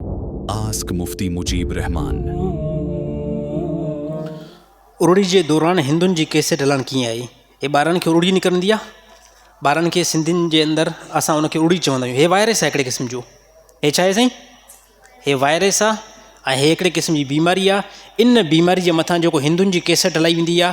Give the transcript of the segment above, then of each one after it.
Ask Mufti Mujib Rahman. اروڙي جي دوران هندن جي ڪيسٽ هلڻ ڪيئن آئي؟ اي ٻارڙن کي اروڙي نڪرندي آ؟ ٻارڙن کي سنڌين جي اندر اسان ان کي اروڙي چوندا آهيون. هي وائرس آ هڪڙي قسم جو. هي ڇا آهي سائين؟ هي وائرس آ ۽ هي هڪڙي قسم جي بيماري آ. ان بيماري جي مٿان جيڪو هندن جي ڪيسٽ هلائي ويندي آ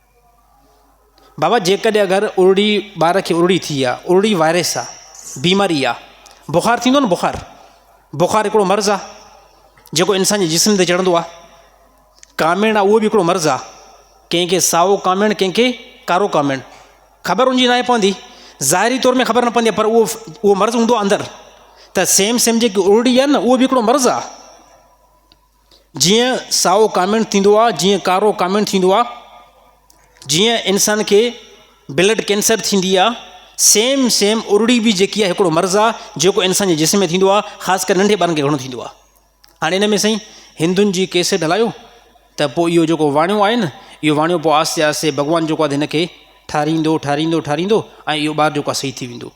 بابا جيڪڏهن اگر ارڙي ٻار کي ارڙي ٿي آ ارڙي وائرس آ بيماري آ بخار ٿيندو نه بخار بخار هڪڙو مرض آ جيڪو انسان جي جسم تي چڙهندو آ ڪاميڻ آ اهو به هڪڙو مرض آ ڪنهن کي سائو ڪاميڻ ڪنهن کي ڪارو ڪاميڻ خبر ان جي ناهي پوندي ظاهري طور ۾ خبر نه پوندي پر اهو اهو مرض هوندو آ اندر ته سيم سيم جيڪي ارڙي آ نه اهو به هڪڙو مرض آ جيئن سائو ڪاميڻ ٿيندو آ جيئن ڪارو ڪاميڻ ٿيندو آ جيئن انسان کي بلڊ ڪينسر ٿيندي آ سيم سيم ارڙي به جيڪي آ هڪڙو مرض آ جيڪو انسان جي جسم ۾ ٿيندو آ خاص ڪري ننڍي ٻارن کي گهڻو ٿيندو آ هاڻي ان ۾ سائين هندن جي ڪيسٽ هلايو ته پوء اهو جيڪو واڻيو آهي نه اهو واڻيو پوء آهستي آهستي ڀڳوان جيڪو آهي هن کي ٺاريندو ٺاريندو ٺاريندو ۽ اهو ٻار جيڪو آهي صحيح ٿي ويندو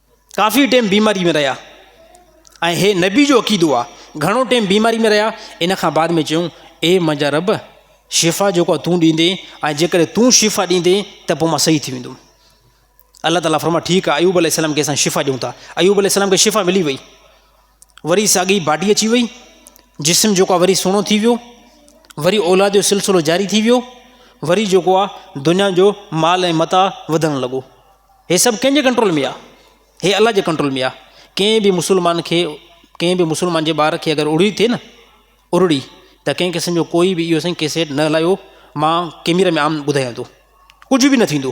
ڪافي ٽيم بيماري ۾ رهيا ۽ هي نبي جو عقيدو آ گهڻو ٽيم بيماري ۾ رهيا ان کان بعد ۾ چيون اي منهنجا رب شفا جيڪو تون ڏيندين ۽ جيڪڏهن تون شفا ڏيندين ته پوء مان صحيح ٿي ويندم الله تعالیٰ فرما ٺيڪ آ ايوب عليه السلام کي اسان شفا ڏيون ٿا ايوب عليه السلام کي شفا ملي وئي وري ساڳي باڊي اچي وئي، جسم جيڪو آ وري سهڻو ٿي ويو، وري اولاد جو سلسلو جاري ٿي ويو، وري جيڪو آ دنيا جو مال ۽ متاع وڌڻ لڳو. هي سڀ ڪنهن جي ڪنٽرول ۾ آ؟ هي الله جي ڪنٽرول ۾ آ. ڪنهن به مسلمان کي ڪنهن به مسلمان جي ٻار کي اگر اڙڙي ٿئي نه اڙڙي ته ڪنهن قسم جو ڪوئي به اهو سائين ڪيسيٽ نه هلايو مان ڪيميرا ۾ عام ٻڌايان ٿو ڪجهه به نه ٿيندو.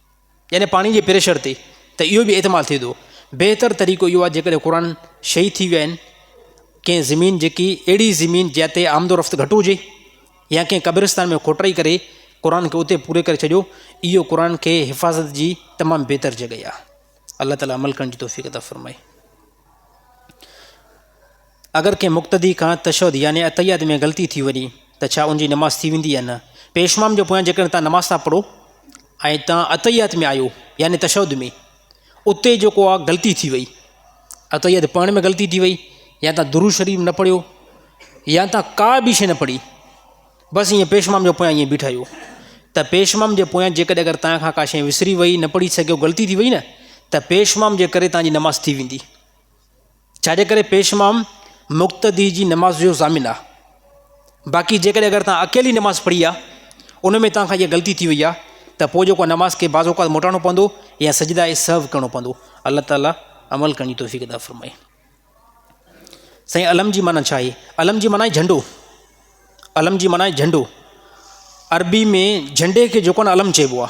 يعني پاڻي جي پريشر تي ته اهو به احتمال ٿئي ٿو بهتر طريقو اهو آهي جيڪڏهن قرآن شهيد ٿي ويا آهن ڪنهن زمين جيڪي اهڙي زمين جنهن تي آمد و رفت گهٽ هجي يا ڪنهن قبرستان ۾ کوٽرائي ڪري قرآن کي اتي پوري ڪري ڇڏيو اهو قرآن کي حفاظت جي تمام بهتر جڳهي آهي الله تعالي عمل ڪرڻ جي توفيق عطا فرمائي اگر ڪنهن مقتدي کان تشهد يعني اتحيات ۾ غلطي ٿي وڃي ته ڇا ان جي نماز ٿي ويندي يا نه؟ پيشمام جي پويان جيڪڏهن تان نماز ٿا پڙهو ۽ تان اتحيات ۾ آيو يعني تشهد ۾ اتي جيڪو آ غلطي ٿي وئي اتحيات پڙهڻ ۾ غلطي ٿي وئي يا تان درود شريف نه پڙهيو يا تان ڪا به شيء نه پڙهي بس ائين پيشمام جو پويان ائين بيٺا آهيو ته پيشمام جي پويان جيڪڏهن اگر تان کان ڪا شيء وسري وئي نه پڙهي سگهيو غلطي ٿي وئي نه ته پيشمام جي ڪري تان جي نماز ٿي ويندي. ڇاجي ڪري پيش امام مقتدي جي نماز جو ضامن آ باقي جيڪڏهن اگر توهان اڪيلي نماز پڙهي آ ان ۾ توهان کان اها غلطي ٿي وئي آ ته پوء جيڪو نماز کي بعض اوقات موٽائڻو پوندو يا سجدا سهو ڪرڻو پوندو الله تعالي عمل ڪرڻ جي توفيق عطا فرمائي سائين علم جي معنی ڇا آهي علم جي معنی جهنڊو علم جي معنی جهنڊو عربي ۾ جهنڊي کي جيڪو نه علم چئبو آ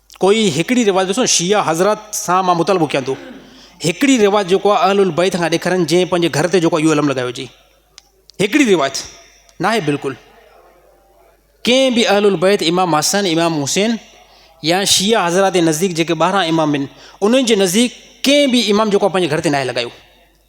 ڪوئي هڪڙي روايت ڏسو نه شيعه حضرات سان مان مطالبو ڪيان ٿو هڪڙي روايت جيڪو آهي اهل البيت کان ڏيکارين جنهن پنهنجي گهر تي جيڪو اهو علم لڳايو جي هڪڙي روايت ناهي بلڪل ڪنهن به اهل البيت امام حسن امام حسين يا شيعه حضرات جي نزديڪ جيڪي ٻاهران امام آهن انهن جي نزديڪ ڪنهن به امام جيڪو پنهنجي گهر تي ناهي لڳايو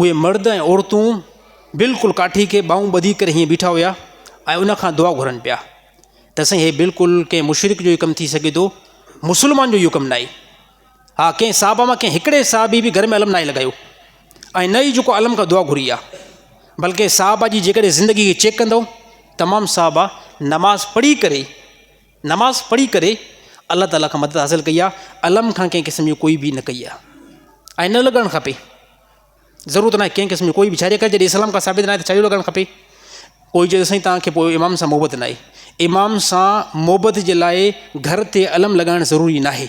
اهي مرد ۽ عورتون بلڪل ڪاٺي کي ٻانهون ٻڌي ڪري هيئن بيٺا هيا ۽ ان کان دعا گهرن پيا ته سائين هي بلڪل ڪنهن مشرڪ جو ئي ڪم ٿي سگهي ٿو مسلمان جو اهو ڪم ناهي ها ڪنهن صحابه مان ڪنهن هڪڙي صحابي به گهر ۾ علم ناهي لڳايو ۽ نه ئي جيڪو علم کان دعا گهري آهي بلڪه صحابه جي جيڪڏهن زندگي کي چيڪ ڪندو تمام صحابه نماز پڙهي ڪري نماز پڙهي ڪري الله تعاليٰ کان مدد حاصل ڪئي آهي علم کان ڪنهن قسم جي ڪوئي بي نه ڪئي آهي ۽ نه لڳڻ کپي ضرورت ناهي ڪنهن قسم جي ڪوئي بي ڇاجي ڪري جڏهن اسلام کان ثابت ناهي ته ڇاجو لڳڻ کپي ڪوئي چئي سائين تان کي پوء امام سان محبت ناهي امام سان محبت جي لاء گهر تي علم لڳائڻ ضروري ناهي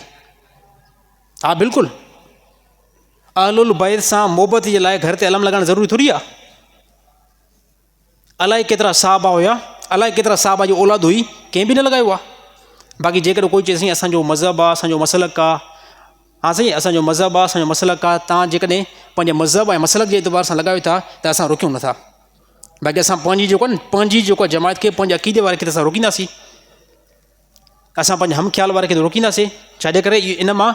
ها بلڪل اهل البيت سان محبت جي لاء گهر تي علم لڳائڻ ضروري ٿوري آهي الائي ڪيترا صحابه هيا، الائي ڪيترا صحابه جي اولاد هئي، ڪنهن به نه لڳايو آ. باقي جيڪڏهن ڪوئي چئي سائين اسان جو مذهب آ، اسان جو مسلڪ آ، ها سائين اسان جو مذهب آ، اسان جو مسلڪ آ، توهان جيڪڏهن پنهنجي مذهب ۽ مسلڪ جي اعتبار سان لڳايو ٿا ته اسان روڪيون نٿا. باقي اسان پنهنجي جيڪو آهن پنهنجي جيڪو جماعت کي پنهنجي عقيدي واري کي ته اسان روڪينداسين. اسان پنهنجي هم خيال واري کي ته روڪينداسين، ڇا جي ڪري ان مان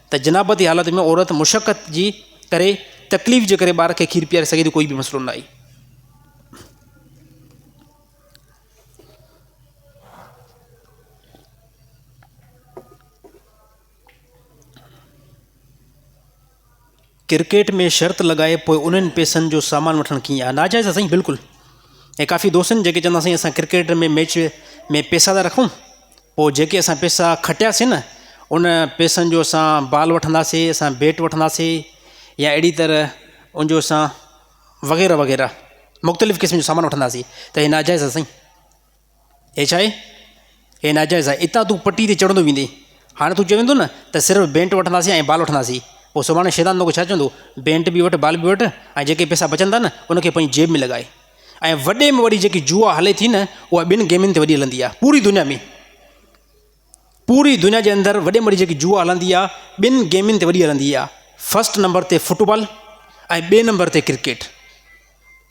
ته جنابتي حالت ۾ عورت مشقت جي ڪري تڪليف جي ڪري ٻار کي کير پياري سگهي ٿي ڪوئي به مسئلو نه آهي. ڪرڪيٽ ۾ شرط لڳائي پوء انهن پئسن جو سامان وٺڻ ڪيئن آ ناجائز آ سائين بلڪل ۽ ڪافي دوست آهن جيڪي چوندا سائين اسان ڪرڪيٽ ۾ ميچ ۾ پئسا ٿا رکون پوء جيڪي اسان پئسا کٽياسين نه ان پئسن جو اسان بال وٺنداسين اسان بيٽ وٺنداسين يا اهڙي طرح ان جو اسان وغيره وغيره مختلف قسم جو سامان وٺنداسين ته هي ناجائز آ سائين هي ڇا آهي؟ هي ناجائز آهي. اتان تون پٽي تي چڙهندو ويندين. هاڻي تون چوين ٿو نه ته صرف بينٽ وٺنداسين ۽ بال وٺنداسين. پوء سڀاڻي شيطان توکي ڇا چوندو؟ بينٽ به وٺ، بال به وٺ ۽ جيڪي پئسا بچن ٿا نه، ان کي پنهنجي جيب ۾ لڳاء. ۽ وڏي ۾ وڏي جيڪي جوا هلي ٿي نه، اها ٻن گيمن تي وڏي هلندي آهي، پوري دنيا ۾. پوري دنيا جي اندر وڏي مڙي جيڪي جوا هلندي آ ٻن گيمن تي وڏي هلندي آ فرسٽ نمبر تي فٽبال ۽ ٻي نمبر تي ڪرڪيٽ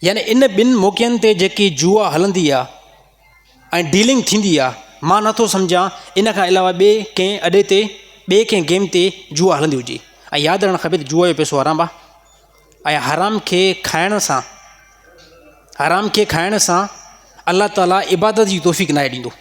يعني ان ٻن موقعن تي جيڪي جوا هلندي آ ۽ ڊيلنگ ٿيندي آ مان نٿو سمجهان ان کان علاوه ٻي ڪنهن اڏي تي ٻي ڪنهن گيم تي جوا هلندي هجي ۽ ياد رهڻ کپي ته جوا جو پيسو حرام آ ۽ حرام کي کائڻ سان حرام کي کائڻ سان الله تعالي عبادت جي توفيق ناهي ڏيندو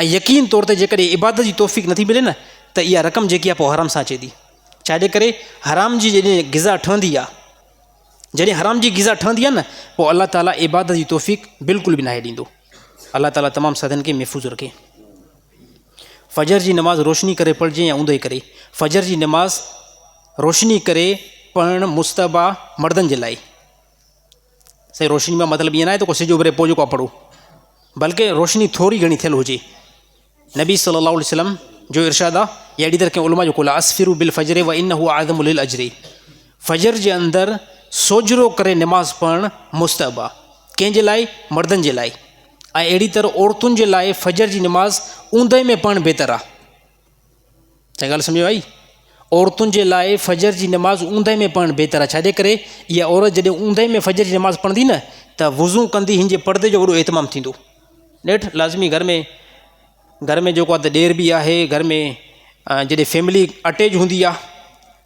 ۽ يقين طور تي جيڪڏهن عبادت جي توفيق نٿي ملي نه ته اها رقم جيڪي آهي پوء حرام سان اچي ٿي ڇاجي ڪري حرام جي جڏهن غذا ٺهندي آهي جڏهن حرام جي غذا ٺهندي آهي نه پوء الله تعالیٰ عبادت جي توفيق بلڪل به ناهي ڏيندو الله تعالیٰ تمام سادن کي محفوظ رکي فجر جي نماز روشني ڪري پڙهجي يا اوندهي ڪري فجر جي نماز روشني ڪري پڙهڻ مستبا مردن جي لاء سائين روشني مان مطلب ايئن ناهي ته ڪو سج اڀري پوء جيڪو پڙهو بلڪه روشني ٿوري گهڻي ٿيل هجي نبي صلي الله عليه وسلم جو ارشاد آ يا اهڙي طرح ڪنهن علماء جو قول آ اسفرو بل فجر و ان هو اعظم للاجر فجر جي اندر سوجرو ڪري نماز پڙهڻ مستحب آ ڪنهن جي لاء مردن جي لاء ۽ اهڙي طرح عورتن جي لاء فجر جي نماز اوندهه ۾ پڙهڻ بهتر آ ڇا ڳالهه سمجهه ۾ آئي؟ عورتن جي لاء فجر جي نماز اوندهه ۾ پڙهڻ بهتر آهي، ڇاجي ڪري اها عورت جڏهن اوندهه ۾ فجر جي نماز پڙهندي نه ته وضو ڪندي هن جي پڙدي جو وڏو اهتمام ٿيندو. نيٺ لازمي گهر ۾ گهر ۾ جيڪو آهي ته ڏير به آهي، گهر ۾ جڏهن فيملي اٽيچ هوندي آهي،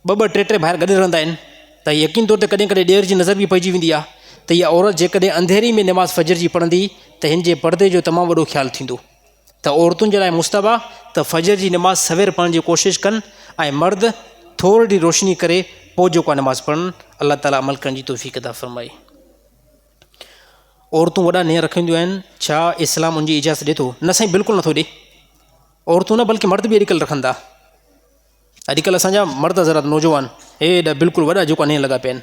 ٻه ٻه ٽي ٽي ڀائر گڏ رهندا آهن ته يقين طور تي ڪڏهن ڪڏهن ڏير جي نظر به پئجي ويندي آهي ته اها عورت جيڪڏهن انڌيري ۾ نماز فجر جي پڙهندي ته هن جي پڙدي جو تمام وڏو خيال ٿيندو. ته عورتن جي لاء مستحب آهي ته فجر جي نماز سوير پڙهڻ جي ڪوشش ڪن ۽ مرد ٿورڙي ڏير روشني ڪري پوء جيڪو آهي نماز پڙهن الله تعالي عمل ڪرڻ جي توفيق عطا فرمائي. عورتون وڏا نينهن رکنديون آهن ڇا اسلام ان جي اجازت ڏي ٿو نه سائين بلڪل نٿو ڏي عورتون نه بلڪه مرد به اڄڪلهه رکن ٿا اڄڪلهه اسان جا مرد حضرات نوجوان هي ايڏا بلڪل وڏا جيڪو نينهن لڳا پيا آهن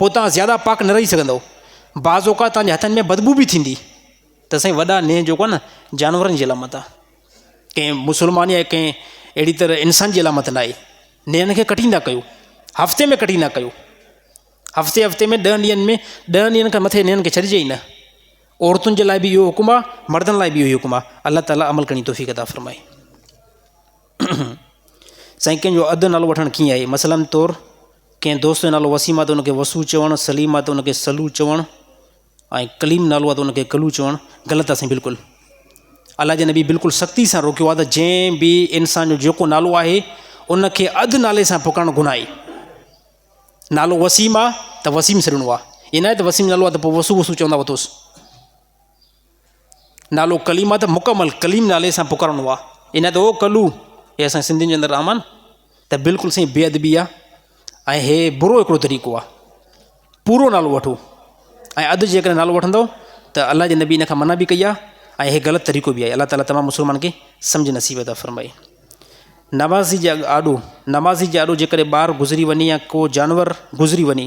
پوء توهان زياده پاڪ نه رهي سگهندؤ. بعض اوقات توهان جي هٿن ۾ بدبوء به ٿيندي. ته سائين وڏا نينهن جيڪو آهي نه جانورن جي علامت آهي. ڪنهن مسلمان يا ڪنهن اهڙي طرح انسان جي علامت ناهي. نينهن کي ڪٽيندا ڪيو. هفتي ۾ ڪٽيندا ڪيو. هفتي هفتي ۾ ڏهن ڏينهن ۾ ڏهن ڏينهن کان مٿي نينهن کي ڇڏجي ئي نه. عورتن جي لاء به اهو حڪم آهي، مردن لاء به اهو ئي حڪم آهي. الله تعاليٰ عمل ڪرڻ جي توفيق عطا فرمائي. سائين ڪنهن جو اڌ نالو وٺڻ ڪيئن آهي مثلاً طور ڪنهن دوست جو نالو وسيم آهي انکي وسو چوڻ سليم آهي ته انکي سلو چوڻ ۽ ڪليم نالو آهي ته انکي ڪلو چوڻ غلط آهي سائين بلڪل الله جي نبي بلڪل سختي سان روڪيو آهي ته جنهن به انسان جو جيڪو نالو آهي انکي اڌ نالي سان پڪارڻ گناهه آهي نالو وسيم آهي ته وسيم سڏڻو آهي ائين ناهي ته وسيم نالو آهي ته پوء وسو وسو چوندا وتوس نالو ڪليم آ ته مڪمل ڪليم نالي سان پڪارڻو آ ان ته او ڪلو هي اسان سنڌين جي اندر رحمان ته بلڪل سائين بي ادبي آ ۽ هي برو هڪڙو طريقو آ پورو نالو وٺو ۽ اڌ جيڪڏهن نالو وٺندو ته الله جي نبي ان کان منع به ڪئي آ ۽ هي غلط طريقو به آهي الله تعاليٰ تمام مسلمان کي سمجھ نصيب عطا فرمائي نمازي جي آڏو نمازي جي آڏو جيڪڏهن ٻار گذري وڃي يا ڪو جانور گذري وڃي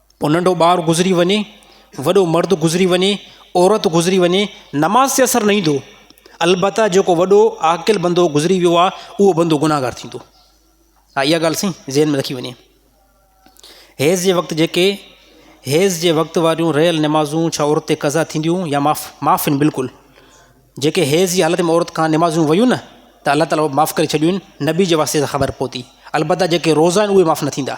پوء ننڍو ٻار گذري وڃي، وڏو مرد گذري وڃي، عورت گذري وڃي، نماز تي اثر نه ايندو. البته جيڪو وڏو عاقل بندو گذري ويو آهي، اهو بندو گناهگار ٿيندو. ها اها ڳالهه سائين ذهن ۾ رکي وڃي. حيض جي وقت جيڪي حيض جي وقت واريون رهيل نمازون ڇا عورت تي قضا ٿينديون يا معاف معاف آهن بلڪل. جيڪي حيض جي حالت ۾ عورت کان نمازون ويون نه ته الله تعاليٰ معاف ڪري ڇڏيون آهن نبي جي واسطي سان خبر پهتي. البته جيڪي روزا آهن اهي معاف نه ٿيندا.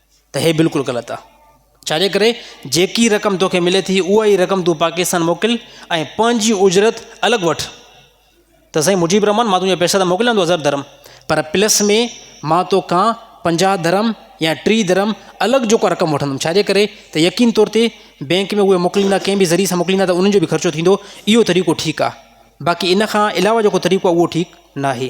ته هي بلڪل غلط آ. ڇاجي ڪري جيڪي رقم توکي ملي ٿي اها ئي رقم تون پاڪستان موڪل ۽ پنهنجي اجرت الڳ وٺ ته سائين مجيب الرحمان مان تنهنجا پئسا ته موڪليان ٿو هزار درهم پر پلس ۾ مان توکان پنجاهه درهم يا ٽيهه درهم الڳ جيڪو آ رقم وٺندم ڇاجي ڪري ته يقين طور تي بينڪ ۾ اهي موڪليندا ڪنهن به ذريعي سان موڪليندا ته انهن جو به خرچو ٿيندو اهو طريقو ٺيڪ آ باقي ان کان علاوه جيڪو طريقو آ اهو ٺيڪ ناهي.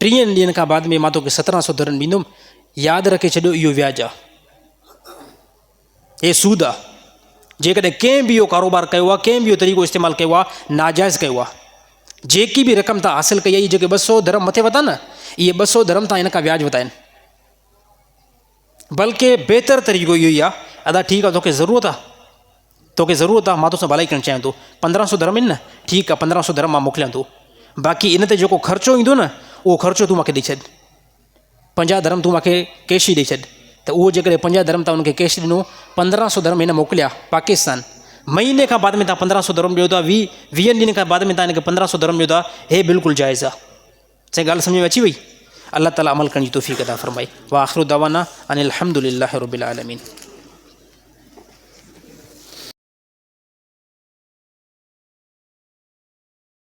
ٽيهن ڏينهن کان بعد ۾ مان توکي سترهن سو درهم ڏيندم، ياد رکي ڇڏيو اهو وياج آ، هي سود آ، جيڪڏهن ڪنهن به اهو ڪاروبار ڪيو آ، ڪنهن به اهو طريقو استعمال ڪيو آ، ناجائز ڪيو آ، جيڪي به رقم تان حاصل ڪئي آ، اهي جيڪي ٻه سو درهم مٿي وتا نه، اهي ٻه سو درهم تان هن کان وياج وتا آهن، بلڪه بهتر طريقو اهو ئي آ، ادا ٺيڪ آ توکي ضرورت آ. توکي ضرورت آ مان توسان ڀلائي ڪرڻ چاهيان ٿو پندرهن سو درهم آهن نه ٺيڪ آ پندرهن سو درهم مان موڪليان ٿو باقي ان تي جيڪو خرچو ايندو نه اهو خرچو تون مونکي ڏئي ڇڏ پنجاهه درهم تون مونکي ڪيش ئي ڏئي ڇڏ ته اهو جيڪڏهن پنجاهه درهم تان انکي ڪيش ڏنو پندرهن سو درهم هن موڪليا پاڪستان مهيني کان بعد ۾ تان پندرهن سو درهم ڏيو ٿا وي ويهن ڏينهن کان بعد ۾ تان هن کي پندرهن سو درهم ڏيو ٿا هي بلڪل جائز آ سائين ڳالهه سمجهه ۾ اچي وئي؟ الله تعالي عمل ڪرڻ جي توفيق عطا فرمائي واخر دعوانا ان الحمد لله رب العالمين.